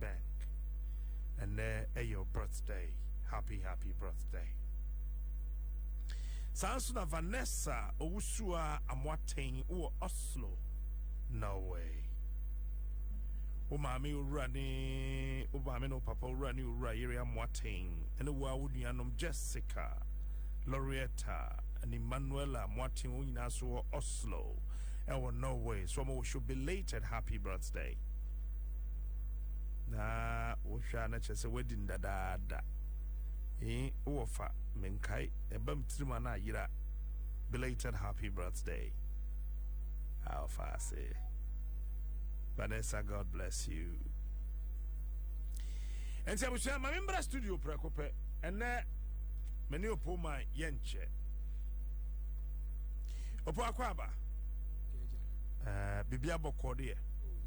Bank ɛnɛ ɛyɛ birthday happy happy birthday saa nso na Vanessa Owusua Amoaten wɔ Oslo Norway wo maame owura ne wo maame ne wo papa owura ne owura yere Amoaten ɛne wo a wo nuanom Jessica Loretta and Emmanuela Moatin Onyinaso Oslo ɛwɔ Norway so wɔn wɔ show belated happy birthday na wohwɛ a na kyerɛ sɛ woadi no dadaada ee wowɔ fa menkae ɛba m tirim a na ayera belated happy birthday aw fa ase vanessa god bless you ɛnti abusua ma membra studio prɛko pɛ ɛnɛ mene opo ma yɛnkyɛ opo akɔ aba uh, eh, biribi abɔkɔ deɛ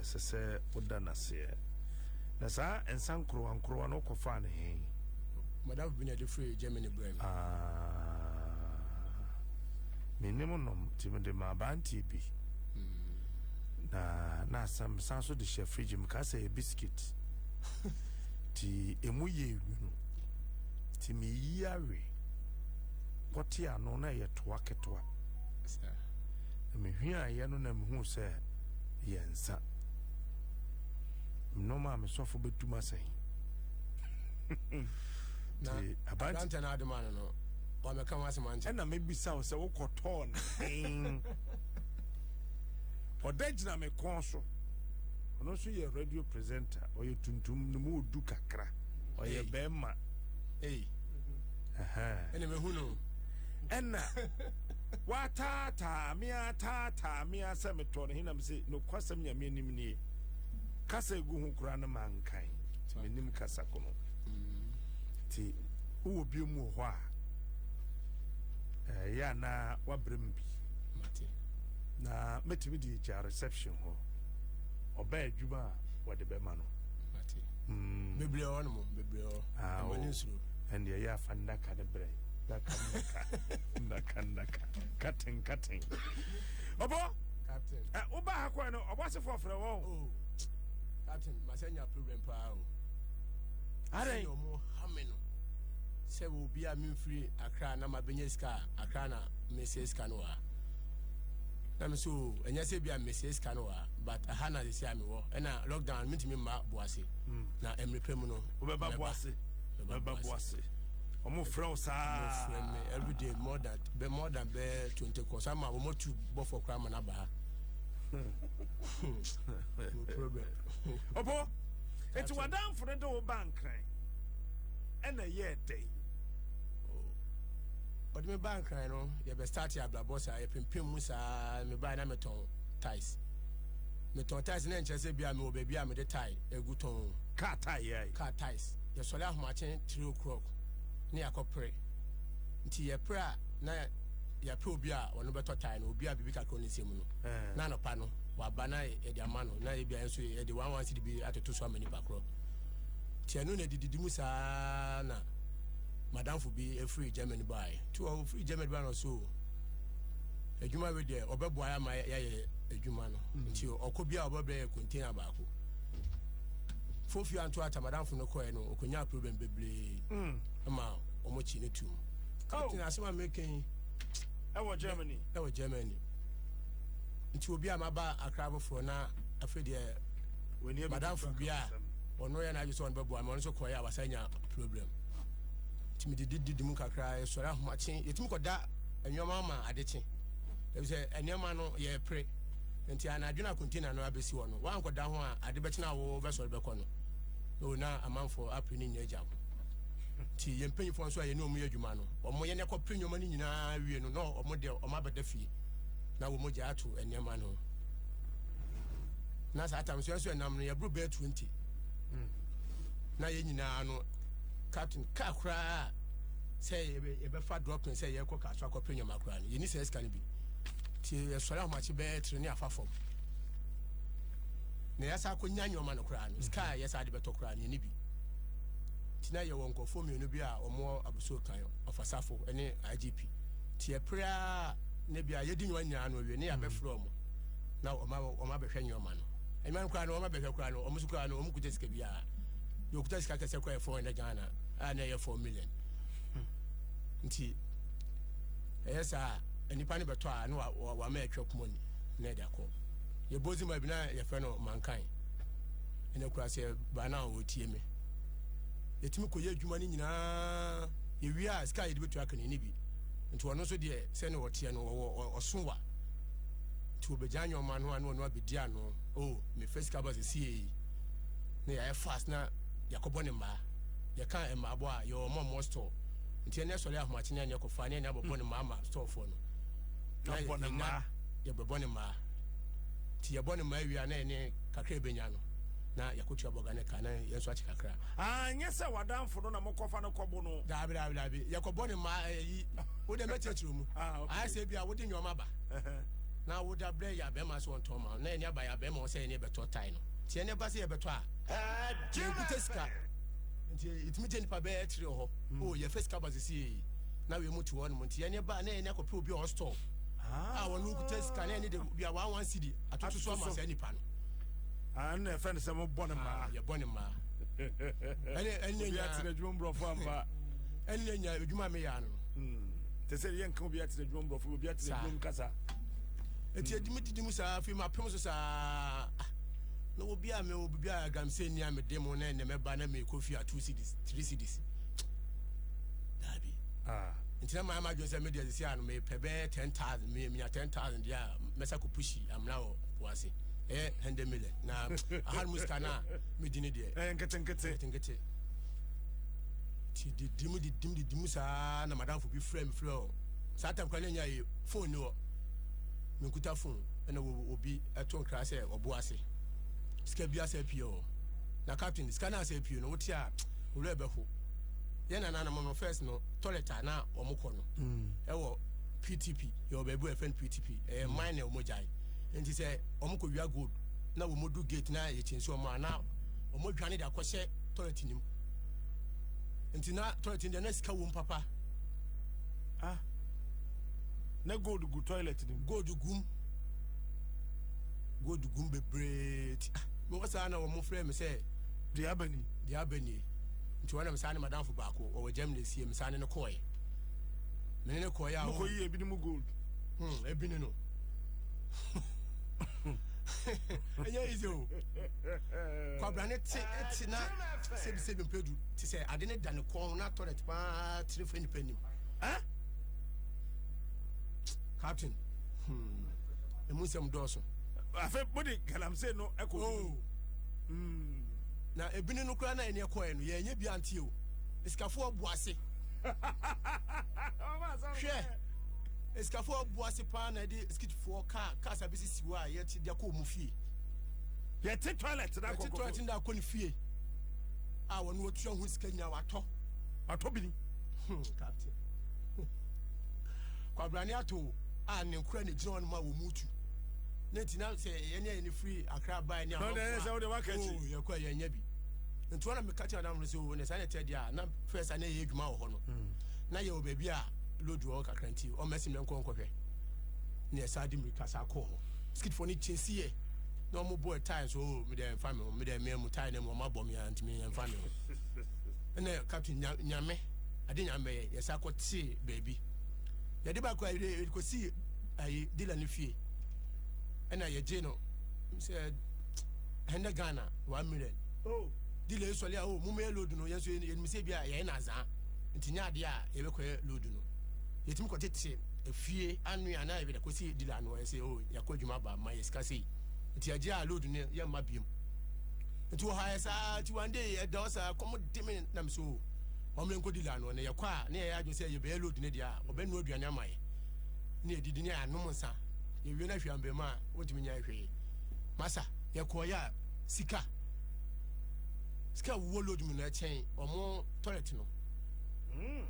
ɛsɛ sɛ woda no aseɛ. Na saa nsa nkorowa nkorowa no wokɔfaa no he? Madamfo bi na ɛde firi Germany brɛ me. Ah, menim nom nti mede ma abanteɛ bi. Hmm. Na na asɛm san so de hyɛ fridge mu kaa sɛ yɛ biscuit. Nti emu yɛ nwunu. Nti meyi awe kɔte ano na ɛyɛ toa ketewa. Na mehuaeɛ no na mehu sɛ yɛ nsa. Nneɛma a mesɔfo bɛtum asɛn. na aberante no adoma no no wamɛka ho asɛm ankyɛ ɛna mebisa wo sɛ wokɔtɔɔ no ɔda gyina me kɔn so ɔno nso yɛ radio presenter ɔyɛ tuntum no mu ɔdu kakra ɔyɛ bɛrima ɛna mehu no ɛna Wɔataataa me ara taataa me ara sɛ metɔɔ no he na mese, Nokwasɛm Nyame anim nie. Kasa egu ho koraa no mankae nti menim kasa ko no. Nti wowɔ biom wɔ hɔ a ɛyɛ anaa wabrɛ mu bi na mɛtumi de agya reception hɔ ɔbɛ adwuma a wɔde bɛma no bebree hɔ nom bebree hɔ ɛmane nsuro ɛndeɛ yɛ afa nnaka no berɛ Naka naka naka naka katen katen. Ɔbɔ. Captain. Ɛ eh, woba ha kɔɛ no ɔbɔ asefoɔ frɛ wɔn. O oh, captain masɛ nya problem paa o. Adɛn. Sɛ ɔmo ha me no sɛ obi a memfiri akra na mabɛnya sika akra na mesɛ sika no wɔ na me so ɛnyɛ sɛ bia mesɛ sika no wɔ but aha na sɛsi a mewɔ ɛna lockdown mentumi mma boase hmm. na mmerɛ pɛ mu no wobɛba boase bɛba boase wɔn frɛ wo saa wɔn frɛ me everyday more than bɛ more than bɛ twenty kɔs ama wɔn atu bɔfɔ koraa ma n'aba ha no problem ɔpɔ eti wadanfo no de wo ba nkran ɛna ɛyɛ ɛdɛ yi. ɔde me ba nkran no yɛbɛ start yɛ abrabɔ saa yɛpempem mu saa me ba na metɔn tais metɔn tais na nkyɛn sɛ bia mewɔ baabi a mede tae egu tɔn kaa tae yɛ kaa tais yɛsɔre ahomakye three o'clock ne yɛakɔ pere nti yɛpere a na yɛpɛ obi a ɔno bɛtɔ tae no obi a biribi kakra ne nsɛm no eh. na anɔpa no waba na yɛde ama no na yɛbia nso yɛde one one cedi bi atoto so ama nipa korɔ nti ɛno na ɛdididi mu saa na madamfo bi ɛfiri germany baeɛ nti ɔfiri germany baeɛ no so adwuma wei deɛ ɔbɛboa yɛ ama yɛayɛ adwuma no mm. nti ɔkɔ bi a ɔbɛbrɛ yɛ container baako fofio anto ata madamfo no kɔɛ no ɔkɔnyaa problem bebree mm. ma ɔmo kyi no tum captain oh. asɛm a mekɛn ɛwɔ germany ɛwɔ germany nti obi a maba akra foforɔ na afei deɛ madamfo bi a ɔno yɛ n'adwe sɛ ɔno bɛboa ma ɔno nso kɔɛ a wasa nya problem nti mede dididi mu kakra ɛsɔre ahomakye yɛtumi kɔda nneɛma ama adekye ɛfisɛ nneɛma no yɛpere nti anadwo na container no abɛsi hɔ no woankɔda ho a ade bɛkyena wo vɛsɔre bɛkɔ no o na amanfoɔ apere ne nyina gya ho nti yɛn mpanyinfoɔ nso a yɛne ɔmo yɛ adwuma no ɔmo yɛne kɔpere nneɛma no nyinaa wie no na ɔmo deɛ ɔmo abɛda fie na wɔn gya ato nneɛma no na saa tam nso nso ɛnam no yɛboro bɛɛ twenty hmm. na yɛn nyinaa no captain kaa koraa sɛ yɛbɛfa dropping sɛ yɛkɔ kaso akɔpere nneɛma koraa no yɛni sɛ ɛsika no bi. nti yɛsɔre ahomakye bɛyɛ tiri ne afa fam na yɛsa akɔnya nneɛma no koraa no sika a yɛsa ade bɛtɔ koraa no yɛne bi nti na yɛwɔ nkurɔfoɔ mmienu bi a wɔwɔ abusuo kan ɔfasafo ne igp nti yɛpere a na bia yɛdi nneɛma nyinaa no awie ne yɛabɛfrɛ ɔmo na ɔmo abɛhwɛ nneɛma no ɛnwuma no koraa no ɔmo abɛhwɛ koraa no ɔmo so koraa no ɔmo kuta sika biara deɛ ɔkuta sika kɛsɛ koraa yɛ four hundred ghana a na ɛyɛ four million hmm. nti ɛyɛ saa a nipa no bɛtɔ a na wama atwa kuma ni na ɛde akɔ yɛbɔ dzi ma bi na yɛfrɛ no mankan ɛna kura sɛ baa no a wɔtie me yɛtumi kɔyɛ adwuma no nyinaa yɛwie a sika a yɛde bɛtua kane ne bi nti ɔno nso deɛ sɛne ɔteɛ no ɔwɔ ɔso wa nti wɔbɛgya nyɔma no a na ɔno abɛdi ano o oh, mefɛ sika ba sɛ siei na yɛayɛ fast na yɛakɔbɔ ne mmaa yɛka mmaabɔ a yɛwɔ mɔmmɔ store nti ɛnɛ sɔre ahomakye ne ɛnɛ kɔfa ne ɛnɛ abɔbɔ ne maa ma stɔɔfoɔ no yɛbɔ ne maa yɛbɛbɔ ne maa nti yɛbɔ ne maa awia na ɛne kakra ɛbɛnya no na yɛkɔtua bɔga ne ka na yɛn nso akye kakra anyɛ ah, sɛ wadanfo no na mokɔfa no kɔbo no daabi daabi daabi yɛkɔbɔ ne maa ɛyi eh, wode mɛkyerɛkyerɛ mu ah, ayɛ sɛ bi a wode nneɔma ba na woda berɛ yɛ abɛma sɛ ɔntɔn ma na ɛne aba yɛ abɛma wɔ sɛ ɛne bɛtɔ tae no nti ɛne ba sɛ yɛbɛtɔ a yɛnkutɛ sika nti ɛtumi gye nipa bɛyɛ tiri wɔ hɔ hmm. o oh, yɛfɛ sika ba sisi yɛ na wei mu te hɔ nom nti ɛne ba na ɛne akɔpɛ obi a ɔstɔɔ ah. a wɔn no kuta sika na ɛne de bi a wɔn wɔn sidi atoto so ama saa nipa no. ɛna ah, ɛfɛ ne sɛ mo bɔ ne mmaa. Ah, yɛ bɔ ne mmaa. ɛne ɛne nya obi atena adwuma mborɔfo ampa. ɛne nya adwuma mi yɛ ano. Hmm. te sɛ yɛn kan obi atena adwuma mborɔfo obi atena adwuma mu kasa. eti edimi didi mu saa afei ma pɛm so saa. na obi a mewɔ biribi a agamsɛ nni a mede mo na ɛnɛ mɛba na merekɔ fie a two cities three cities daabi ah. nti na maa ma adwene sɛ mede ɛde sɛ ano mepɛ bɛyɛ ten thousand menya ten thousand deɛ a mɛsa kɔ pushi amena wɔ po ase ɛyɛ hundred million na aha mu sika no a medi ne deɛ ɛyɛ nketenkete nti didi mu didi mu didi mu saa na madamfo bi frɛ me frɛ ɔ saa tam kora ne nya yɛ phone ni hɔ menkuta fon ɛna obi ɛto nkra sɛ ɔbo ase sika bi asɛ pie hɔ na captain sika no asɛ pie no wote a owura ɛbɛho yɛ nananom no first no toilet a na wɔn kɔ no mm. ɛwɔ ptp yɛwɔ baabi a ɛfɛn ptp ɛyɛ mine na wɔn gyae nti sɛ wɔn kɔ wia gold na wɔn du gate na yɛ kyɛnse wɔn a na wɔn dwane de akɔhyɛ toilet nim nti na toilet nim deɛ na sika wɔm papa ah na gold gu toilet no mu. Gold gum. Gold gum bebree ti. Ah, mewɔ saa na wɔn frɛ me sɛ. Deɛ aba ni. Deɛ aba ni. Nti wɔn na me saa ne madamfo baako wɔwɔ Germany esie me saa ne ne kɔɛ. Me ne ne kɔɛ a wɔn. Mokɔ yi ebi ne mu gold. Hmm, ebi ne no. ɛnyɛ easy o kwabra ne te ɛte na sɛbisɛbi mpɛdu te sɛ ade ne da ne kɔn na tɔlɛt paa tiri fɛ nipa nim. captain hmm. ɛmu nsɛm dɔɔso afei mode galamsey no ɛkɔ oh. hmm. na ebini no koraa na ɛne ɛkɔɛ no yɛnyɛ bi anteɛ o esikafoɔ bu ase hwɛ esikafoɔ bu ase paa na ɛde sikitifoɔ kaa kaa sa bi sisi hɔ a yɛte de akɔ ɔmo fie yɛte toilet na akɔ yɛte toilet na akɔ ne fie a wɔn wɔtua ho sika nyinaa watɔ watɔ bini hmm, captain kwabrane ato a ne nkura na egyina hɔ nom a wɔn mu tu ne nti na sɛ yɛne yɛne firi akra bae ne amanfoɔ a yɛkɔ a yɛanya bi nti ɔna meka kyerɛ adamfo no sɛ o ne saa ne ɛtɛ deɛ a na fɛ sa ne yɛ adwuma wɔ hɔ no hmm. na yɛwɔ baabi a lodu wɔ kakra nti ɔmɛsi mɛ nkɔ nkɔhwɛ ne ɛsa de mmirika sa kɔɔ hɔ skitfoɔ no kyɛ si yɛ na wɔn bɔ ɛtae so o medɛ nfa mi ho medɛ mmea mu tae na mu wɔn abɔ mi a ntumi nfa mi ho ɛna captain nyame ade nyame bɛyɛ yɛsa kɔ tee baabi yɛde ba kora yɛde kɔsi ayi dila no fie ɛna yɛgye no sɛ ɛnɛ ghana one million oh. dila ɛsɔle a o oh, momɛyɛ load no yɛnso yɛnim sɛ bi a yɛyɛ no azaa nti nyɛ adeɛ a yɛbɛkɔyɛ load no yɛtumi kɔtete efie anwe anaa yɛbɛda kɔsi dila no ɛsɛ o oh, yɛakɔ adwuma ba ma yɛ sika sei nti agye a load no yɛmma biom nti wɔhaɛ saa nti one day ɛda ɔ saa kɔm de me nam so wɔn yɛn kɔdi la no na yɛkɔ a na yɛyɛ adwene sɛ yɛbɛyɛ load no deɛ a ɔbɛnoa aduane ama yɛ ne yɛdidi ne anom nsa yɛwie no ahwɛ ambɛmu a wɔntumi nya hwee masa yɛkɔɔyɛ a sika sika wuo load mu na ɛkyɛn wɔn toilet no hmm.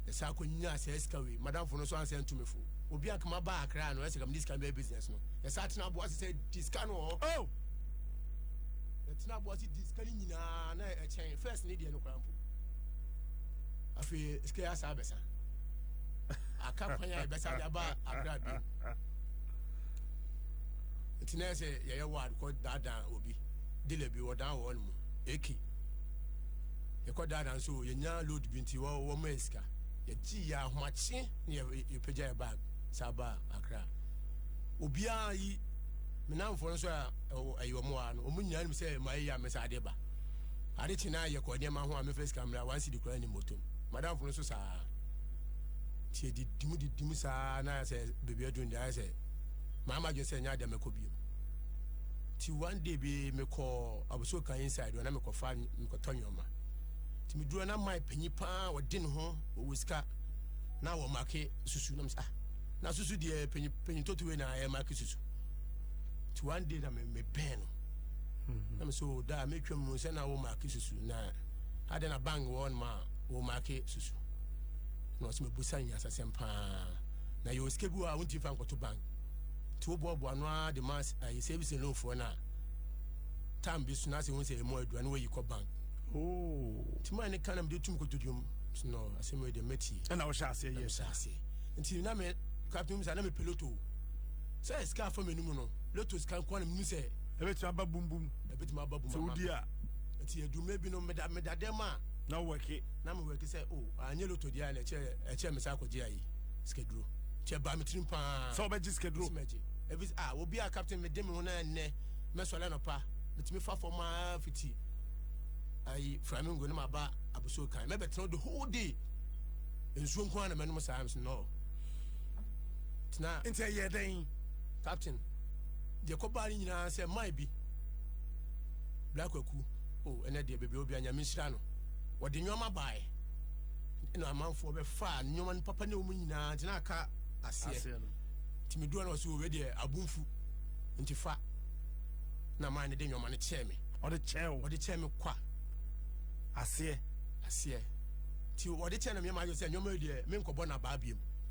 ɛsɛ akɔ nyinaa sɛ sika wei madamfo no nso ansɛ ntumi fo obi akama ba akra no ɛsɛ kam ne sika bɛyɛ business no ɛsɛ atena aboa sɛ sɛ di sika no wɔ hɔ ɛtena aboa sɛ di sika no nyinaa na ɛkyɛn first ne deɛ no kora afei sika yɛ asaa bɛsa aka kwan a yɛbɛsa de aba akra bi nti na sɛ yɛyɛ ward kɔ daadaa obi dila bi wɔdan wɔn mu eki yɛkɔ daadaa nso yɛnya load bi nti wɔma yɛ sika yɛgye yɛ ahomakye ne yɛpagya yɛ bag saa aba akra obiara yi menamfoɔ no nso a ɛyɛ wɔn a no wɔn nyinaa nim sɛ ma yɛ yɛ amesa adeɛ ba ade kye na yɛkɔ nneɛma ho a mefa sika mmra wansi de kura ne motom madamfo no nso saa nti yɛdidi mu didi mu saa na ayɛ sɛ baabi aduru de ayɛ sɛ maama adwene sɛ ɛnyɛ adeɛ mɛkɔ bio nti one day bi mekɔ abosuo kan inside na mekɔfa mekɔtɔ nneɛma nti meduru na mae panyi paa wɔde ne ho ɔwɔ sika na wɔ make susu na mesɛ ah na susu deɛ panyi panyi totowe na ɛyɛ make susu nti one day na mebɛn no na me so da a metwam mu sɛ na wo maake susu na adɛn na bang wɔ nom a wo maake susu na ɔsɛ mebusa nyasasɛm paa na yɛwɔ sika bi wɔ a wontumi fa nkɔto bank nti woboaboa no a de ma ayɛ service loanfoɔ no a tam bi so na sɛ hu sɛ ɛmu adua na wayi kɔ bank nti ma ne ka na mede tum kɔto dwom no asɛm yɛ deɛ mɛtie ɛna wohyɛ aseɛ yɛ hyɛ aseɛ nti na me captain mu sa na me piloto Sɛ sika afa mmienu mu no, lotto sika nko na menu sɛ. Ebetumi aba bum bum. Ebetumi aba bum. Sɛ wodi a. Nti adumɛ bi no meda meda dɛm a. Na wɔke. Na mo wɔke sɛ o oh, anyɛ lotto di a na ɛkyɛ ɛkyɛ mesa akɔgye ayi sikaduro. Nti ɛba mi tirim paa. Sɛ ɔbɛgye sikaduro. Sɛ mɛgye. Ebi a ah, obi a captain mi de mi ho na ɛnɛ mɛsɔlɛ nɔpa mitumi fa fam aa fiti ayi flamingo ne ma ba abusuo kan mɛbɛtena the whole day nsuo nko ara na mɛnom saa no. tena. Nti ɛyɛ dɛn? Captain, deɛ kɔbaa no nyinaa sɛ mae bi. Bra kwaku, o oh, ɛnɛ deɛ baabi a obi anyame nhyira no. Wɔde nneɛma bae. Ɛna amanfoɔ bɛfaa nneɛma no papa ne wɔn nyinaa nti na aka aseɛ. Nti meduɔ na ɔsɛ wɔwɛ deɛ abomfu nti fa na mae no de nneɛma no kyɛɛ me. Ɔde kyɛɛ wo? Ɔde kyɛɛ me kwa. Aseɛ? Aseɛ. Nti wɔde kyɛɛ na meɛ ma ayɔ sɛ nneɛma yi deɛ menkɔbɔ na baa biem.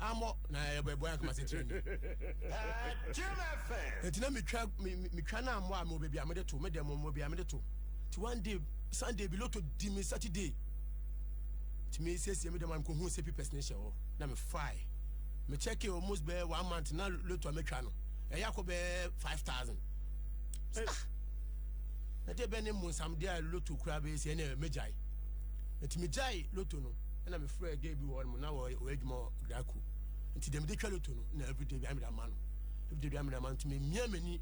amɔ na ɛbɔ ɛbɔ akoma se tiri ni. ɛti na metwa metwa na amɔ a mo baabi a mede to me dɛm mo baabi a mede to ti one day sunday bi loto di me saturday ti me siesie me dɛm a mekɔ hu sɛ pipɛs ne hyɛ hɔ na me fae me check it almost bɛɛ one month na loto a metwa no ɛyɛ akɔ bɛɛ five thousand. ɛdeɛ bɛ ne mmonsamdeɛ a loto koraa bɛyɛ sɛ ɛne mɛgyae ɛti megyae loto no ɛna mefrɛ gɛ bi wɔ no mu na wɔyɛ adwuma wɔ grako nti deɛ mede twa loto no na everyday bi amede ama no everyday bi amede ama no nti memia m'ani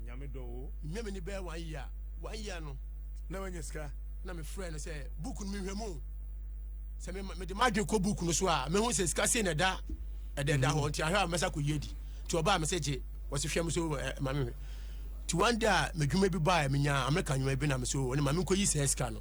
nyame dɔ o memia m'ani bɛyɛ one year one year no na wanya sika na mefrɛ no sɛ book no mehwɛ mu sɛ mede madwe kɔ book no so a mehu sɛ sika sei na ɛda ɛda ɛda hɔ nti ahwɛ a mɛsa kɔyi adi nti ɔbaa me sɛ gye wɔse hwɛ me so ma me nti one day a madwuma bi baa menya amerika nwuma bi na me so ɔne ma menkɔyi sɛ sika no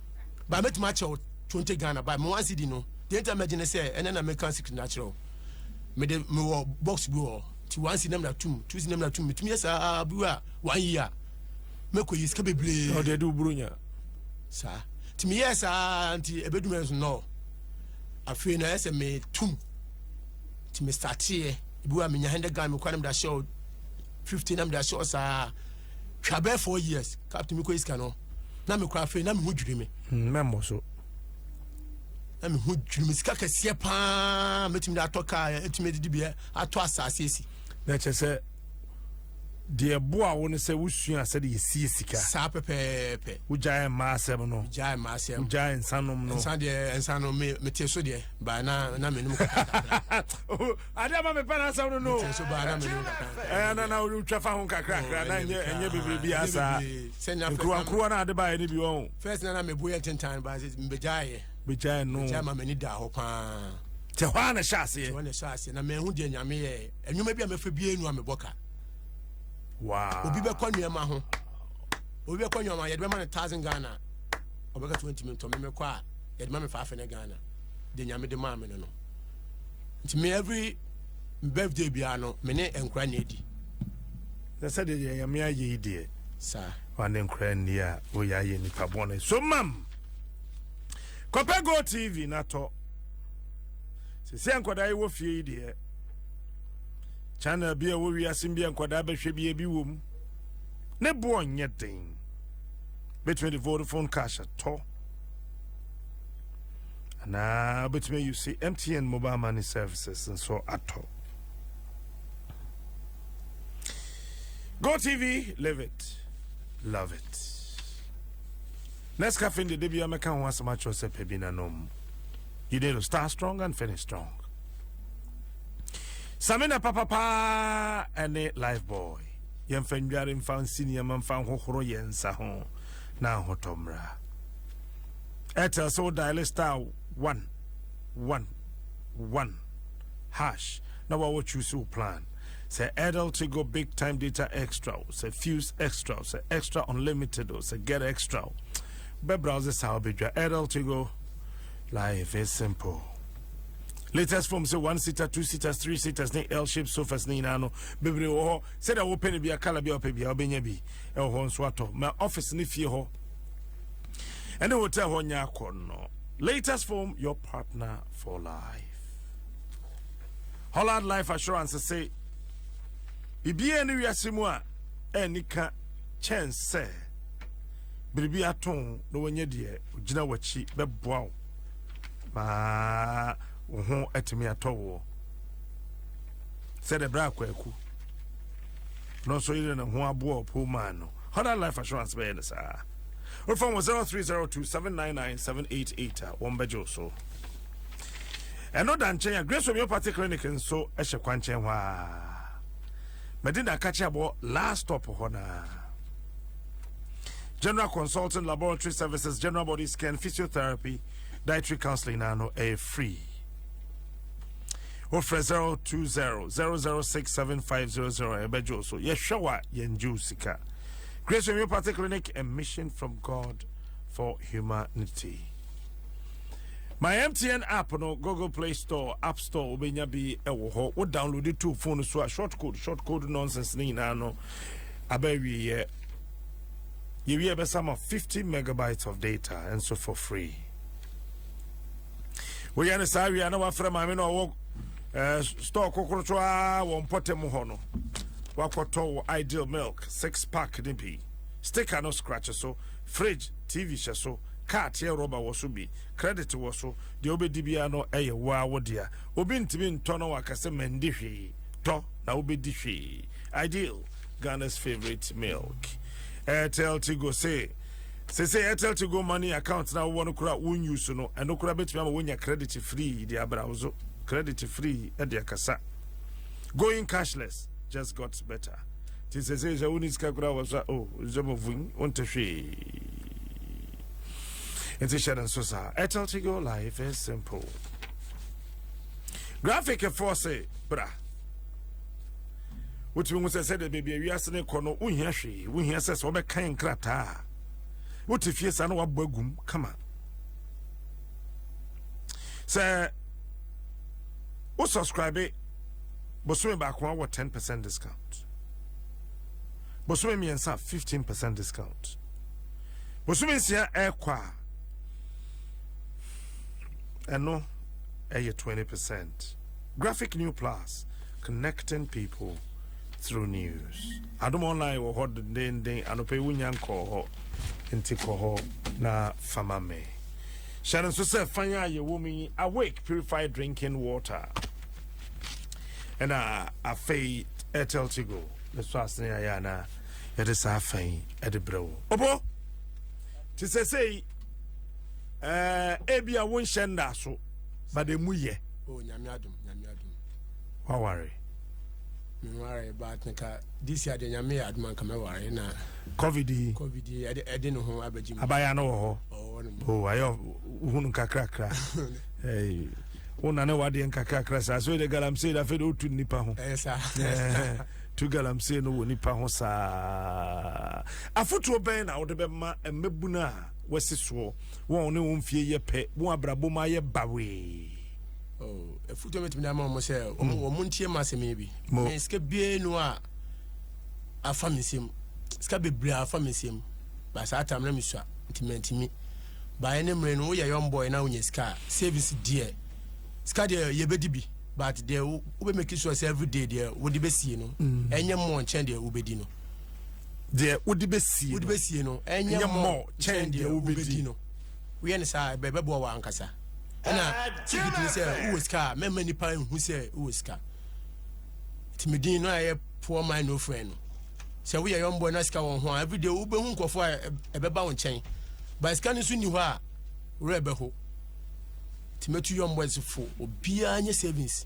ba mɛtumi akyɛ wo twenty ghana ba me one cd no deɛ nti a mɛgye ne sɛ ɛnɛ na mɛka secret no akyerɛ wo mede mewɔ box bi wɔ nti one cd na mena tum two cd na mena tum metumi yɛ saa bi a one year mɛkɔ yi sika bebree na ɔde adi wo buro nya saa nti meyɛɛ saa nti ɛbɛdum ɛnso no afei na ɛsɛ metum nti mestarteɛ bi a menya hundred ghana mekɔ na mede ahyɛ wo fifty na mede ahyɛ wo saa twa bɛɛ four years captain mi kɔ esika no na mi kura afei na mi ho dwiri mi. Hmm, mɛmɔ so. na mi ho dwiri mi sika kɛseɛ paa mɛtumi de atɔ kaa ɛtumi de bi atɔ asaase esi. na kyerɛ sɛ deɛ boa wo no sɛ wosua sɛde yɛsie sika saa pɛpɛɛpɛ wogyae mma asɛm no gyae mma asɛm wogyae nsanom no nsa deɛ nsa no mete so deɛ baa na na menom kakra adeɛ ma mepɛ no asɛm no no ɛyɛ na na wotwa fa ho nkakrakra na ɛnyɛ ɛnyɛ bebree bi asaa nkuruwa nkuruwa na ade baeɛ no bi wɔ ho first na na mebo yɛ ntentan ba sɛ mbɛgyaeɛ bɛgyae no gyae ma m'ani da hɔ paa tɛ hɔ a na ɛhyɛ aseɛ hɔ na ɛhyɛ aseɛ na mahu deɛ nyame yɛ ɛnwuma bi a mɛfa bia nu a mebɔ ka wow obi bɛkɔ nneɛma ho obi bɛkɔ nneɛma yɛde bɛma no thousand ghana ɔbɛka tumi ntumi ntɔ memekɔ a yɛde ma me faafe ne ghana deɛ nyame de maa me no no nti me every birthday biara no me ne nkora nni adi na sɛdeɛ yɛ nyame ayɛ yi deɛ saa wane nkora nni a woyɛ ayɛ nipa bɔne so mam kɔpɛ go tv na tɔ sɛsɛ nkɔdaa yi wɔ fie yi deɛ channel bi a ɛwɔ wiase bi a nkɔdaa bɛhwɛ bi ebi wɔ mu ne boɔ nyɛ den bɛtumi de vodafone cash atɔ anaa wobɛtumi ayi se mtn mobile money services nso atɔ go tv live it love it nescafe de da bia mɛka ho asɛm akyerɛ sɛ pɛ bi nanom you need to start strong and finish strong samina papapaa ɛne life boy yɛmfa nnware mfa nsi nneɛma mfa nhohoro yɛn nsa ho na ahotɔ mmra Airtel sɛ wo dial star one one one hash na wawo choose wo plan sɛ Airtel Tigo big time data extra o sɛ fuse extra o sɛ extra unlimited o sɛ get extra o bɛ browse saa wobɛdwa Airtel Tigo life is simple latest form sɛ one seater two seaters three seaters ne l shape sofas ne nyinaa no bebree wɔ hɔ sɛdeɛ wopɛ no bia kala bia wopɛ bia wobɛnya bi ɛwɔ hɔ nso atɔ ma office ne fie hɔ ɛne hotel hɔ nyɛ akɔnnɔ latest form your partner for life holland life assurance se biribiara ne wiase mu a ɛnni ka kyɛn sɛ biribi ato na wɔnyɛ deɛ gyina w'akyi bɛboa wo ma wo ho atumi atɔ woɔ sɛdeɛ berɛ akwaku ɔno nso yere ne ho aboɔ poor man no hɔda life assurance bɛyɛ no saa wofa wɔ 0302799788 a wɔmbɛgye wo so ɛno da nkyɛn a grace homeopathy clinic nso hyɛ kwankyɛn hɔ a mɛde na aka kyɛ abɔ last stop hɔ naa general consulting laboratory services general body scan physiotherapy dietary counseling na no ɛyɛ free wofrɛ 0200067500 ɛbɛgye wo so yɛhwɛ wo a yɛngye wo sika grace homeopathy clinic a mission from god for humanity my mtn app no google play store app store wobɛnya bi ɛwɔ hɔ wo download it to phone so a short code short code nonsense ne nyinaa no aba awieɛ yɛwie ɛbɛsa ma 50 megabytes of data and so for free woyɛ no saa wie a na wafrɛ maame na ɔwɔ eh, store kokorotɔ a wɔ mpɔtam hɔ no wakɔtɔ wɔ ideal milk six pack ne bi sticker no scratch so fridge tv hyɛ so kaa teɛ rɔba wɔ so bi credit wɔ so deɛ wobɛdi biara no ɛyɛ woa wo dea obi ntumi ntɔ no waka sɛ mandi hwee tɔ na wobɛdi hwee ideal ghana's favorite milk airtel tigo say sese airtel to go money account na wowɔ no kora won use no ɛno kora bɛtumi ama wonya credit free de abra wo so credit free de akasa going cashless just got better nti sese sɛ woni sika kora wɔ so a oh nsɛm ɔvun wonte hwee nti hyɛ no nso saa airtel to go life is simple graphic ɛfoɔ se bra wotumi hu sɛ sɛdeɛ baabi a wiase no kɔ no wohia hwee wohia sɛ sɛ wobɛkan nkrataa a wote fie saa na wabɔ agum kama sɛ wo subscribe bosome baako a wɔ 10 percent discount bosome mmiɛnsa 15 percent discount bosome nsia ɛrekɔ a ɛno ɛyɛ 20 percent Graphic New Plus, Connecting People Through News. Adom Online wɔ hɔ dendenden. Anɔpa yi wonya nkɔɔ hɔ, nti kɔ hɔ na fama me. Hyɛ no nso sɛ fan a yɛwɔ mu yi, Awake Purified Drinking Water. Ɛna afei Airtel Tigo ne so asene ayɛ anaa yɛde saa fan yi de brɛ wo. Ɔbɔ! Te sɛ sei, ɛɛ, ebi a wonhyɛ nna so. but emu yɛ. o oh, nyame adum nyame adum. waware. meware but nka this year de nyame yɛ aduma nka mɛware na. covid yi covid yi ɛde ɛde ne ho abɛgye mu. abaya no wɔ hɔ. ɔwɔ ne mu. o oh, ayɛ ohunu kakrakra. ɛɛ wo nane wadeɛ nkakrakra saa so yɛde galamsey de afei de wotu nnipa ho eh, eh, tu galamsey no wɔ nipa ho saa afotuo bɛn na wode bɛma mmabunu a wasi soɔ wɔn a wɔne wɔn mfie yɛ pɛ wɔn abrabɔ mu ayɛ bawee ɛfotɔ bɛtumi de ama wɔn sɛ wɔn ntie ma asɛm yi bi mɛ sika bie no a afa me nsam sika bebree afa me nsam baasa atam na mesua nti mantumi baeɛ ne mmerɛ no woyɛ young boy na wonya sika a service deɛ sika deɛ yɛbɛdi bi but deɛ wobɛmaki sure sɛ everyday deɛ wode bɛsie no ɛnyɛ mmɔ nkyɛn deɛ wobɛdi no deɛ wode bɛsie wode bɛsie no ɛnyɛ mmɔ kyɛn deɛ wobɛdi no woyɛ no saa ɛbɛboa wɔ ankasa ɛna tikitiri sɛ wowɔ sika a mɛma nnipa nhu sɛ wowɔ sika nti medin no ayɛ poor man no friend no sɛ woyɛ yɔmbɔ na sika wɔ ho a everyday wobɛhu nkurɔfoɔ a ɛbɛba wo nkyɛn ba sika no nso nni hɔ a werɛ bɛho nti mɛtu yɔmbɔ fo obiara nyɛ savings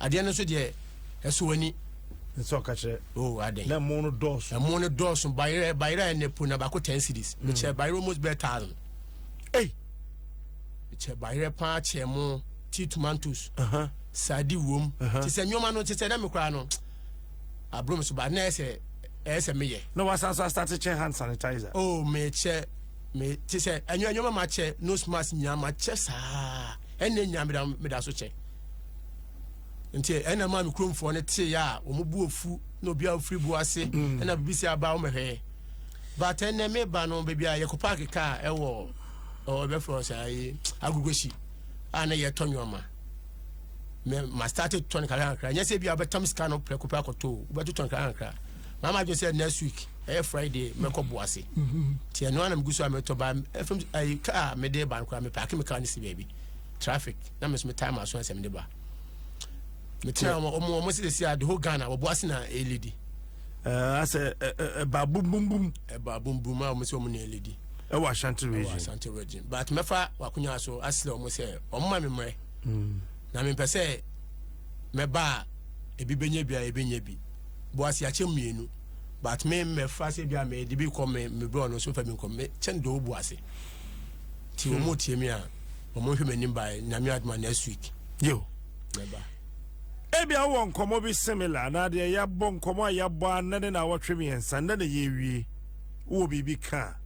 adeɛ no nso deɛ ɛsɔ w'ani nsɛ ɔka kyerɛ oh, na ɛmo no dɔɔso ɛmo no dɔɔso bayerɛ bayerɛ ɛnɛ po na baako ten cities mm. mekyɛ bayerɛ almost bɛɛ thousand ei mekyɛ bayerɛ paa kyɛ mo ti tomatoes uh-huh. sadi wom uh-huh. te sɛ nneɛma no te sɛ dɛ me koraa no aburom so ba na ɛsɛ ɛsɛ meyɛ na wasan so asate kyɛ hand sanitizer oh mekyɛ me te sɛ ɛnyɛ ɛnyɛma makyɛ nose mask nyinaa makyɛ saa ɛnna nyinaa meda so kyɛ nti ɛna maa me kuromfoɔ no tee a wɔn bu ofu na obi a ofiri bu ase mm. ɛna bibi si aba wɔn hwɛ but ɛnɛ me ba no baabi a yɛkɔ paaki kaa ɛwɔ ɔwɔ ɛbɛfrɛ ɔsɛ ayi agogosi a na yɛtɔ nneɛma mɛ ma start tɔn kakra kakra nyɛ sɛ bi a bɛtam sika no prɛko prɛko to bɛto tɔn kakra kakra maa ma adwene sɛ next week ɛyɛ friday mɛkɔ bu ase mm-hmm. tiɛ no anam gu so a mɛtɔ ba ɛfam ayi kaa mɛde ba no koraa mɛ paaki mi kaa ne si baabi. traffic na me so metaa ma so asɛm de ba mekyerɛ wɔn wɔn wɔn sisi a the whole ghana wɔbɔ ase na eledi. ɛɛ asɛ ɛ ɛba bumbumbum. ɛba bumbum a wɔn sɛ wɔn na eledi. ɛwɔ ashanti region ɛwɔ ashanti region but mɛfa wakonya so asrɛ wɔn sɛ wɔn ma mi mmerɛ. Hmm. na mi mpɛ sɛ mɛba a ebi bɛnyɛ bi a ebi nyɛ bi bɔ ase akyɛ mmienu but me mɛfa sɛ bi a mɛ de bi kɔ mɛ mɛ brɔ no so fɛ mi nkɔ mɛ kyɛn do bɔ ase ti wɔn mo tie mi a. wɔn nhwɛ m'anim baeɛ nyame adom a next week yo mɛba ebia wowɔ nkɔmmɔ bi similar anaa deɛ yɛabɔ nkɔmmɔ a yɛabɔ a nnɛ ne na awɔtwe mmiɛnsa nnɛ na yɛwie wowɔ biribi ka a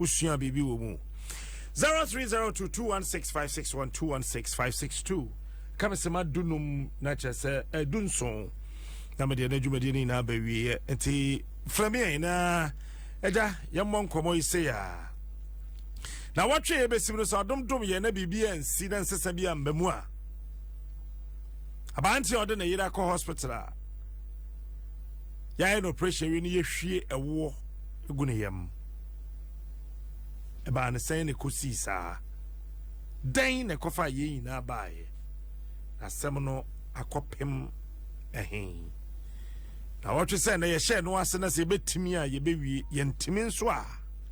wosua biribi wɔ mu 0302216561216562 ka me sɛ madu num na kyerɛ sɛ ɛdu eh, nson na medeɛ no adwumadeɛ no nyinaa bɛwieɛ nti frɛ me ɛ na agya yɛmmɔ nkɔmmɔ yi sei a na wɔtwe yɛ bɛsim no sɛ ɔdom dom yɛ na biribi ansi na nsesa bi amba mu a aberanteɛ a ɔde ne yere akɔ hospital a yɛayɛ no operation wie no yɛhwie ɛwoɔ gu ne yam ɛbaa ne sɛn ne kɔsii saa dɛn na ɛkɔfa a yɛn nyinaa baeɛ na asɛm no akɔpem ɛhe na wɔtwe sɛ na yɛhyɛ no ase na sɛ yɛbɛtumi a yɛbɛwie yɛntumi nso a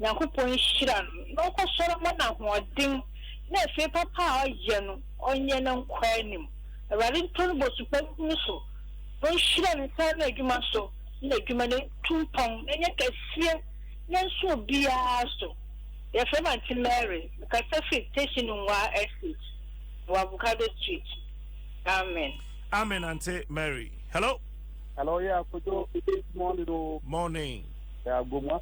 Nyankopɔn nhyira no na ɔkɔsɔre mma no ahoɔden na afie papa a ɔyɛ no ɔnyɛ no nkɔ anim. Awurade ntɔ no bosu pa ngu no so na ɔnhyira ne nsa ano adwuma so na n'adwuma no ntu mpɔn na ɛnyɛ kɛseɛ na ɛnso obiara so. Yɛfrɛ me Auntie Mary. Mekasa firi Teshie Nungua Estate, wɔ Avocado Street. Amen. Amen Auntie Mary. Hello. Hello, yeah, Kojo. Morning, oh. Morning. Yeah, Gomwa.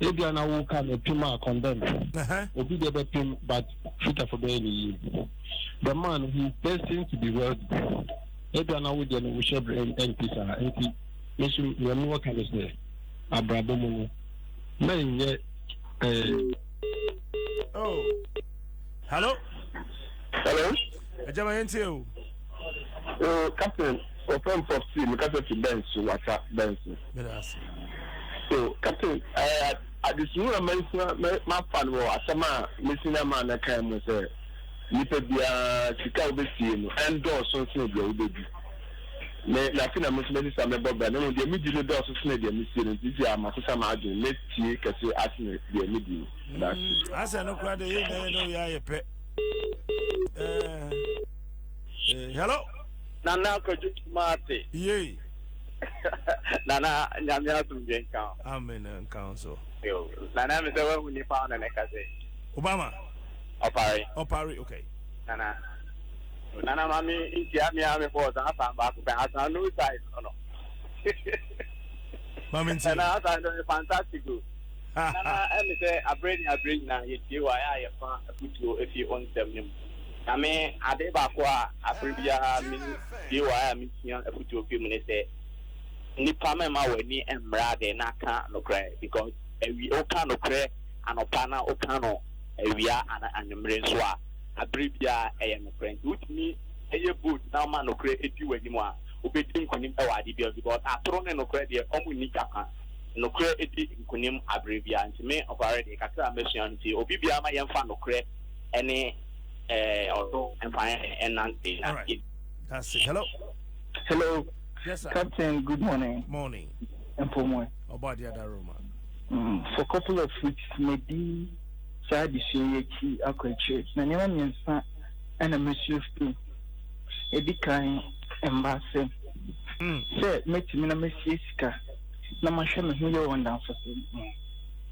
Ebia na wo ka no pim a condemn obi deɛ bɛ pim but fitafo bɛyɛ ne yie the man he is destined to be wealthy ebia na wo deɛ no wo hyɛ brɛ ɛnti saa nti nso nea mi wɔ ka no sɛ abrabɔ mu no mɛ nyɛ ɛɛ. oh hello hello ɛjaba yɛn ti o. o captain. Ɔfɛm pɔp tii mi kasa ti bɛn so wata bɛn so. Meda ase. So captain ɛɛ eh, adesua a masua mafa no wɔ asɛm a mesi na maa na kan mu sɛ nipa biara sika a wobɛsie no ɛndɔɔso nsene deɛ wobɛdi me na afei na me nso mɛsesa mɛbɔ bra na mmom deɛ medi no dɔɔso sene deɛ mesie no nti si a masesa m'adwene mɛtie kɛse asene deɛ medi no. Mm, asɛ no kora deɛ yɛnyɛ yɛ ne woyɛ ayɛ pɛ. Eh, eh, hello. Nana Kwadwo Kumase. Yei. Nana Nyame asomdwe nka ho. Amen nka ho so. Yo, Nana mi sɛ wahu nipa ɔno ne kase. Obama. Ɔpare. Ɔpare, okay. Nana. Nana ma mi ntia mi a mi bɔ ɔsan asan baako pɛ asan no size ɔno. Ma mi ntia. Nana asan no fantastic o. Nana ɛmi sɛ abere ni abere nyinaa yɛ tie wa yɛ a yɛ fa afutuo efi ɔnsɛm ne mu. Na me, ade baako a bere biara mini gyee wɔ a misua afotu fi mu ne sɛ, Nnipa mma w'ani mmra ade na ka nokorɛ, because awi woka nokorɛ anɔpa na woka no awia anaa anwummere nso a, bere biara ɛyɛ nokorɛ. Nti wotumi yɛ bold na woma nokorɛ di w'anim a, wobɛdi nkonim wɔ ade biara mu, because atoro ne nokorɛ deɛ wɔn nni kyapa. Nokorɛ di nkonim bere biara. Nti me, ɔkware deɛ, kakra a masua no nti, obi biara mma yɛmfa nokorɛ. ɛne ɛɛ ɔdo mfa ɛnante na. That's it. Hello. Hello. Yes, sir. Captain, good morning. Morning. Mpomoe. About the other room. Mm, for a couple of weeks, maybe saa adesua yi akyi akɔ akyire na nneɛma mmiɛnsa ɛna mɛsua fi ɛdi kan mma ase sɛ mɛtumi na mɛsie sika na mahwɛ me ho yɛ wɔ ndamfo so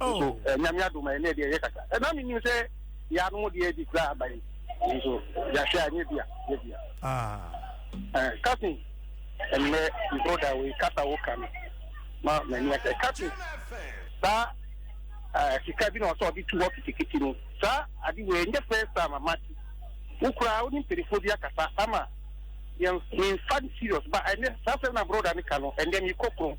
nso oh. eh, nyame adom a ɛnɛ deɛ yɛkasa ɛna eh, menim sɛ yɛanom deɛ adi kura aba yi nso yɛahwɛ a nyɛ bia nyɛ bia ah. eh, kasin ɛnnɛ broda wei kasa wo ka no ma m'ani asɛ kasin saa sika bi na ɔsɛ ɔde tu hɔ kitikiti no saa ade wei ɛnyɛ first time amate wo koraa wo ne mpanifoɔ bi akasa ama yɛmfa no serious ba ɛnɛ saa sɛ na broda ne ka no ɛndɛ mekɔ kron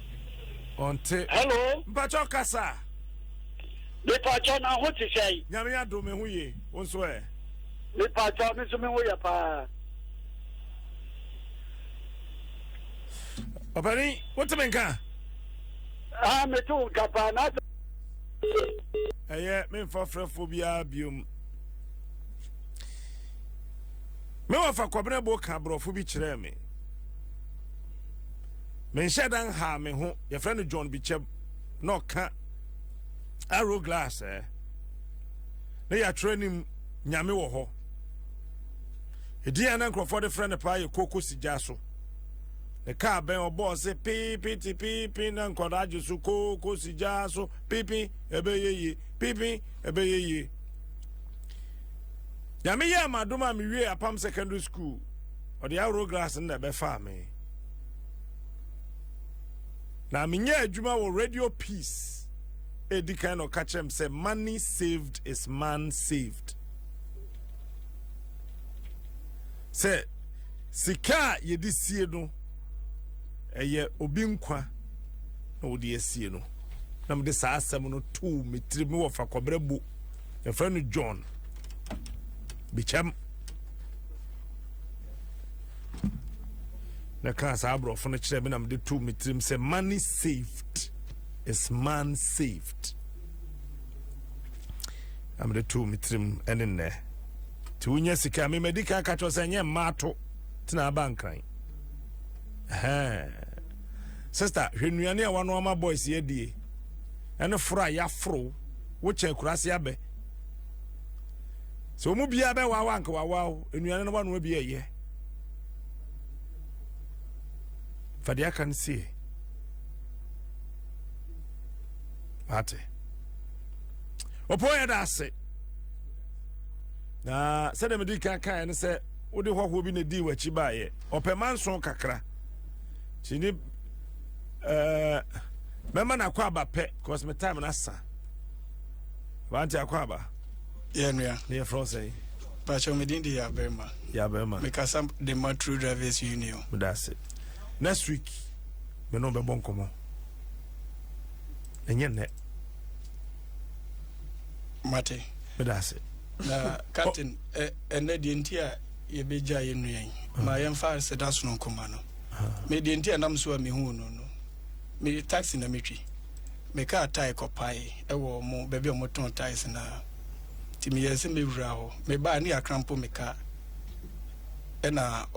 ɔnte hello mpakyɛ ɔkasa mepakyɛ na ho te sɛn nyame adom me ho ye wo nso ɛ mepakyɛ me nso me ho yɛ paa ɔpɛni wote me nka ah mete wo nka paa na ɛyɛ memfa frɛfoɔ biara biom mewɔ fa kɔbenɛ bo ka borɔfo bi kyerɛɛ me Menhyɛ da nhaa me ho. Yɛfrɛ no John Bikyɛm na ɔka Arrow Glass ɛ. Na yɛatwerɛ anim Nyame wɔ hɔ. Ɛdin a na nkurɔfoɔ de frɛ no paa yɛ Koko Sigya so. Ne kaa bɛn ɔbɔɔ se piipi ti piipi na nkɔdaa gye so Koko Sigya so piipi ɛbɛyɛ yie piipi ɛbɛyɛ yie. Nyame yɛ amadom a mewie apam secondary school ɔde Arrow Glass no na ɛbɛfaa me. na menyɛ adwuma wɔ radio peace ɛdi kan na ɔka kyerɛ m sɛ money saved is man saved sɛ sika a yɛde sie no ɛyɛ obi nkwa na wɔde asie no na mede saa asɛm no too me tiri me wɔ fakɔberɛ bo yɛfrɛ no john bikyɛm na kaa saa aborɔfo no kyerɛ me na mede too me tirim sɛ money saved is man saved na mede too me tirim ɛne nnɛ nti wonya sika a memadi kan ka kyerɛ sɛ ɛnyɛ mma ato tena aba nkran sister hwɛ nnuane a wano ama boys yɛ die ɛne foro a yɛaforo wokyɛ kurase abɛ Sɛ wɔn mu biara bɛwaawa anka wawaaw nnuane no wanoa bi ɛyɛ. Fa deɛ aka no sie. Ate. Ɔpɔ yɛ da ase. Na sɛdeɛ mede kan kaeɛ no sɛ wode hɔhoɔ bi na ɛdii w'akyi baeɛ. Ɔpɛ manso kakra. Nti ne ɛɛ mɛma no akɔ aba pɛ cause me time no asa. Wante akɔ aba. Yɛ nua. Ne yɛ frɔn sɛn. Pakyɛw me din de Yabɛma. Yabɛma. Me kasa de ma True Drivers Union. Me da ase. Next week me no bɛ bɔ nkɔmɔ. Ɛnyɛ nnɛ. Mate. Me da ase. Na captain ɛnɛ deɛ nti a yɛbɛgya yɛ nua yi ma yɛmfa seda sono nkoma no. Me deɛ nti a nam so a mehu no no me taxi na metwi. mekaa tae kɔpaee wɔ ɔmo baabi a ɔmo tɔn taes no ara nti meyɛɛ sɛ mɛwura hɔ. Mebaa a ne yɛakra mpo me kaa. Ɛna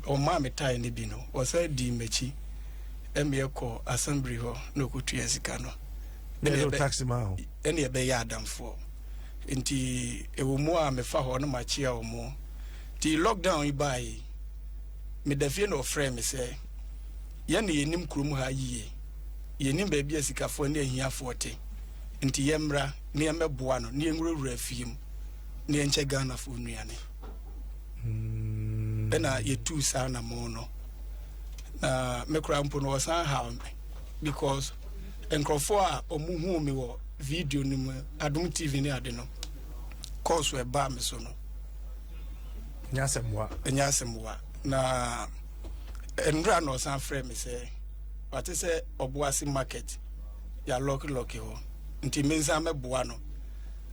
ɔmaa me tae no bi no, ɔsan dii m'akyi ɛma yɛkɔɔ asɛmbli hɔ na ɔkɔtuaa sika no. Ɛna ɔde taxi maa wo? Ɛna yɛbɛyɛɛ adamfoɔ. Nti ɛwɔ mu a mefa hɔ na makyea ɔmo. Nti lockdown yi baeɛ yi, meda fie na ɔfrɛɛ me sɛ, Yɛn na yɛnim kurom ha yiye. Yɛnnim baabi a asikafoɔ ne ahiafoɔ te, nti yɛmmra na yɛmmɛboa no na yɛnwurawura afie mu na yɛnkyɛ Ghanafoɔ nnuane. Mm. Ɛna yɛtuu saa na mo no. Na me koraa mpo no wɔsan haw me because nkurɔfoɔ a wɔn huu me wɔ video no mu Adom TV ne ade no kɔɔso ɛbaa me so no. Nyasɛmmoa. Nyasɛmmoa. Na nnura na ɔsan frɛ me sɛ. Wate sɛ Ɔboase Market yɛalɔkelɔke hɔ nti mensan mɛboa no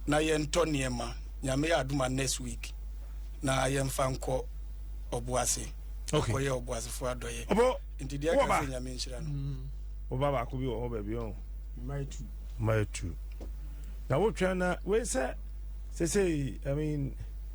na yɛntɔ nneɛma Nyame yɛ adom a next week na yɛmfa nkɔ Ɔboase akɔyɛ Ɔboasefoɔ adɔyɛ nti deɛ ɛka sɛ Nyame nhyira no. Mm. Woba baako bi wɔ hɔ baabi ɔn. Mmae tu. Mmae tu. Na wotwɛn na wei sɛ sɛsɛ I mean.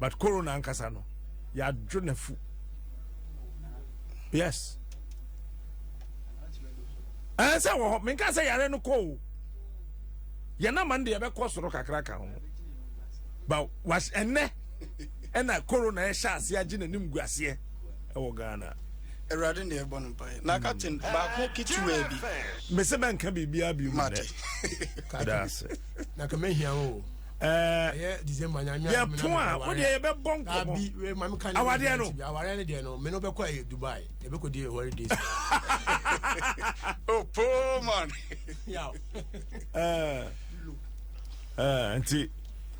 but corona ankasa no yɛadwo n'afu yes ɛn eh, sɛ wɔ hɔ menka sɛ yare no kɔ o yɛn ama no de yɛbɛkɔ soro kakra ka ho ba was ɛnɛ ɛna corona ɛhyɛ aseɛ agye n'anim gu aseɛ ɛwɔ ghana awurade na ɛbɔ no mpaeɛ na captain baako ketewaa bi mese bɛnka biribiaa bio mu nɛ kada ase na kamahia wo ɛɛ december nyame yɛ pon a o deɛ yɛ bɛ bɔ nkɔmɔ abi wɛ maame kan awadeɛ no awadeɛ no deɛ no mɛ no bɛ kɔ ɛyɛ dubai yɛ bɛ kɔ di ɛwɔre days. o poor man. yaw. ɛɛ ɛɛ nti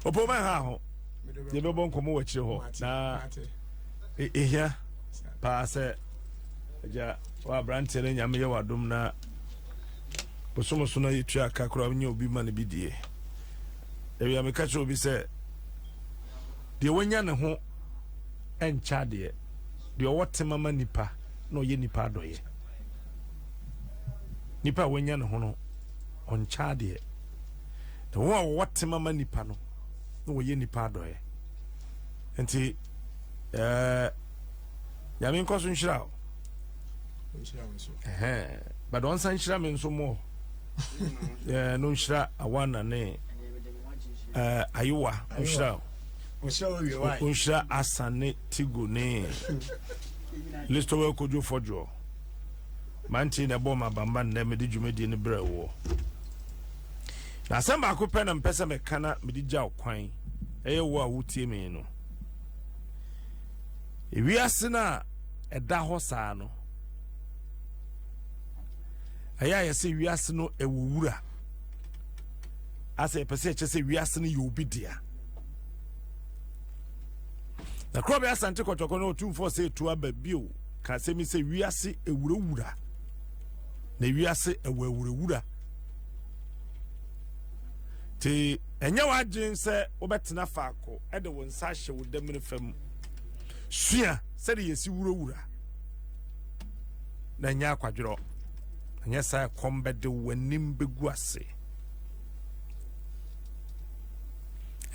o poor man ha ho yɛ bɛ bɔ nkɔmɔ wɔ akyire hɔ na ehia paa sɛ ɛgya wa aberanteɛ no nyame yɛ wa dom na bosomoso na yɛ tua kakra nye obi ma no bi die. Ebia meka kyerɛ obi sɛ, deɛ wanya ne ho nkyɛ adeɛ, deɛ ɔwɔ tema ma nipa na ɔyɛ nipa adɔyɛ. Nipa a wanya ne ho no, ɔnkyɛ adeɛ. Na wɔn a wɔwɔ tema ma nipa no, na wɔyɛ nipa adɔyɛ. Nti, ɛɛ, eh, nyame nkɔ so nhyira o. But ɔnsa nhyira me nso mmɔɔ. ɛɛ no nhyira awana ne ɛɛ ayewa nhyira nhyira asan ne tigo ne listowɛ kojo fɔjoɔ mante na ɛbɔ ma bamba nnɛ mede dwumadie no brɛ woɔ na asɛm baako pɛ na mpɛ sɛ mɛka na mede gya wo kwan ɛyɛ wo a wotie me no ewiase no a ɛda hɔ saa no ɛyɛ a yɛsɛ wiase no ɛwɔ wura asɛ yɛpɛ sɛ yɛkyɛ sɛ wiase no yɛ obi dea na korɔ bɛyɛ asante kɔtɔkɔ no ɔtumfoɔ sɛ ɛtu aba bio ka sɛ mi sɛ wiase ɛwurawura na wiase ɛwɔ awurawura nti ɛnyɛ w'adwene sɛ wobɛtena faako ɛde wo nsa ahyɛ wo damene fam sua sɛde yɛsi wurawura na nyɛ akwadworɔ ɛnyɛ saa ɛkɔm bɛde w'anim bɛgu ase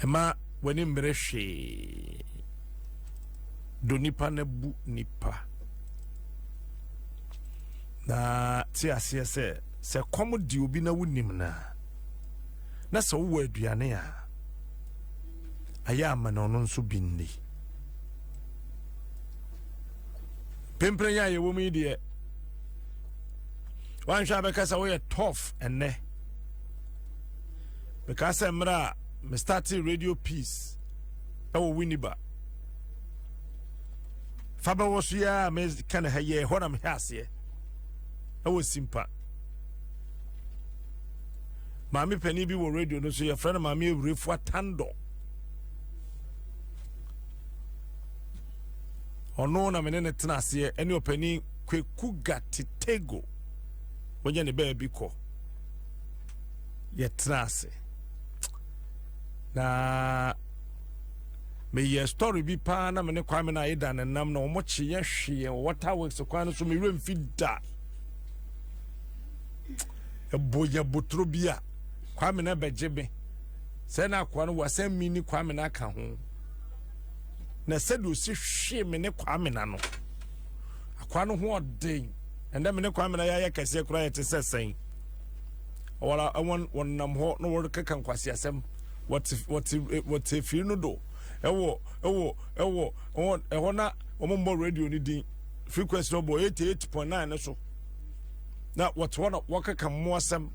ɛma w'anim mmerɛ hwee do nipa no bu nipa na te aseɛ sɛ sɛ kɔm di obi na wonim no a na sɛ wowɔ aduane a ayɛ ama na ɔno nso bi nni pempere yɛ a yɛwɔ mu yi deɛ wanhwɛ a bɛka sɛ woyɛ tof ɛnnɛ mekaa sɛ mmerɛ a mestate radio peace ɛwɔ winiba fa bɛwɔ so yɛ a meka ne ha yɛ hɔ na mehɛ aseɛ ɛwɔ simpa maame panin bi wɔ radio no so yɛfrɛ no maame awurefua tandɔ ɔno na me ne no tena aseɛ ɛne ɔpanin kwaku gatetego wɔnyɛ ne baabi kɔ yɛtena ase na meyɛ story bi paa na me ne kwame no ayeda ne nam na wɔkye yɛ hwe yɛn wɔ water works kwan no so mewerɛ mfi da ɛbɔ yɛ botoro bi a kwame no bɛgye me sɛ na akoa no wɔ asɛm mi ne kwame no aka ho na sɛdeɛ ɔsi hwee me ne kwamena no akwaa no ho ɔden ɛnna me ne kwamena yɛayɛ kɛseɛ koraa yɛte sɛ sɛn wɔla wɔn wɔn nam hɔ na wɔrekeka nkwasi asɛm wɔte wɔte wɔte efiri no do ɛwɔ ɛwɔ ɛwɔ wɔn ɛhɔ na wɔn mbɔ radio no din frequency no bɔ eighty eight point nine no so na wɔte hɔ na wɔkeka mmoa asɛm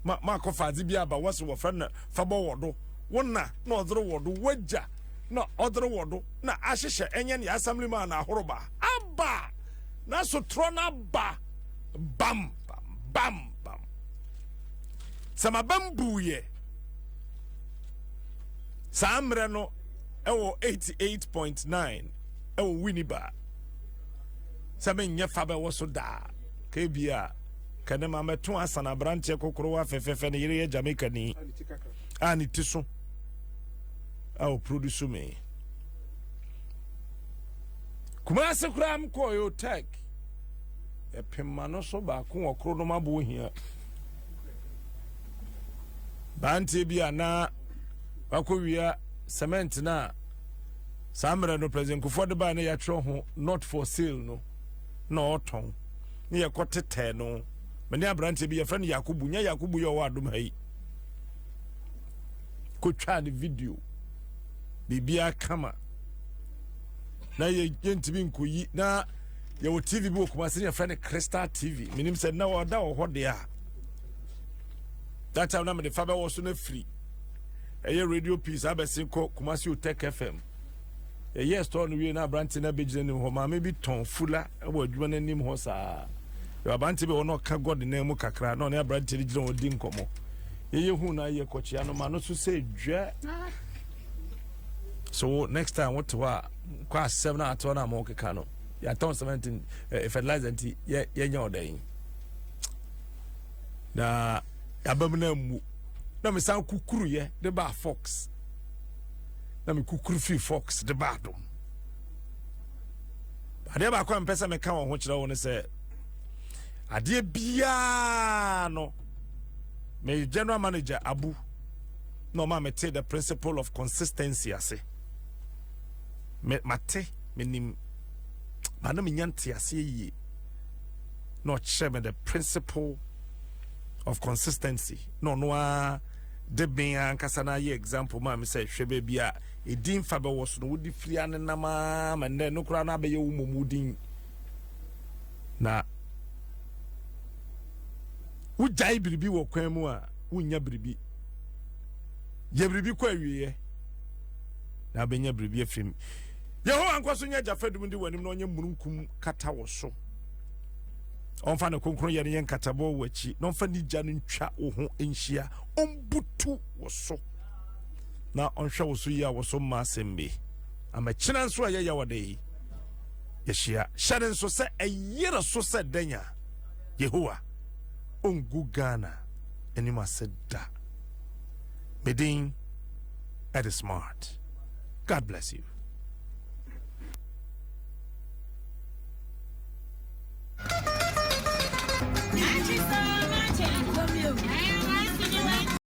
ma ma akɔfa adze bi aba wɔsi wɔfrɛ no fabɔ wɔ do wɔn na na ɔdze wɔ do wɔgya. na ɔdere wɔ do na ahyehyɛ ɛnyɛ ne assemblyman na ahoroba aba na sotorɔ no aba bam bam bam bam sɛ mabam buuyɛ saa mmerɛ no ɛwɔ 88.9 ɛwɔ wini baa sɛ menyɛ fa bɛwɔ so daa ka bia kɛne ma mɛto asana aberanteɛ kokorowa fɛfɛfɛ ne yere yɛ jamaica ni a ne ti so a ɔproduce me kumase koraa m kɔɔ yotec ɛpema no so baako wɔ koro nom aboɔ hia baanteɛ bi a na wakɔwia cement no a saa mmerɛ no president kufoɔ de baa na yɛatwerɛ ho not for sale no na ɔtɔn ne yɛkɔ tetɛɛ no mene aberanteɛ bi yɛfrɛ no yakobu nyɛ yakobu yɛ ɔwɔ adom ha yi kɔtwaa ne video biribiara kama na yɛntumi nkɔyi na yɛwɔ tv bi wɔ kumase ne yɛfrɛ no crystal tv menim sɛ na ɔda wɔ hɔ deɛ a that time na mede fa bɛwɔ so no afiri ɛyɛ radio piece abɛse kɔ kumase otech fm ɛyɛ store no wie na aberante no abɛgyina nim hɔ maame bi tɔn fula wɔ adwuma no anim hɔ saa aberante bi wɔ na ɔka god nan mu kakra na ɔne aberante no gyina hɔ di nkɔmmɔ yɛyɛ hu na yɛ kɔkyea no ma no so sɛ dwa so wo next time wote hɔ a kɔ asɛm no ateɔ no a ma wokeka no yɛatɔn cement eh, fertilizer nti yɛnyɛ ɔdɛn na yɛabam no ammu na mesan kukuruyɛ de baa fox na mekukuru fii fox de baa dom adeɛ baako a mpɛ sɛ meka wɔ ho kyerɛ wo no sɛ adeɛ biaa no me general manager abu na ɔma me te the principle of consistency ase me mate menim ba na menya nteaseɛ yie na ɔkyerɛ me the principle of consistency na ɔno ara de ben ankasa no ayɛ example maa me sɛ hwɛ baabi a ɛdin fa bɛwɔ so no wode firi anenam a ma nnɛ no koraa no abɛyɛ wo mmom wodin na wogyae biribi wɔ kwan mu a wonnya biribi yɛ biribi kɔ awieɛ na abɛnya biribi afiri mu yehowa nkɔ so nyɛ agya fadum de w'anim na ɔnyɛ mununkum kata wɔ so ɔmfa ne kronkron yɛ no yɛ nkatabɔ wɔ akyi na ɔmfa ne gya no ntwa wo ho nhyia ɔmbutu wɔ so na ɔnhwɛ wo so yi a wɔ so mma asɛm bi amakyina nso a yɛyɛ wɔde yi yɛhyia hyɛ ne nso sɛ ɛyere so sɛ dɛn a Yehowa ongu Ghana anim ase da. Me din ɛde smart. God bless you.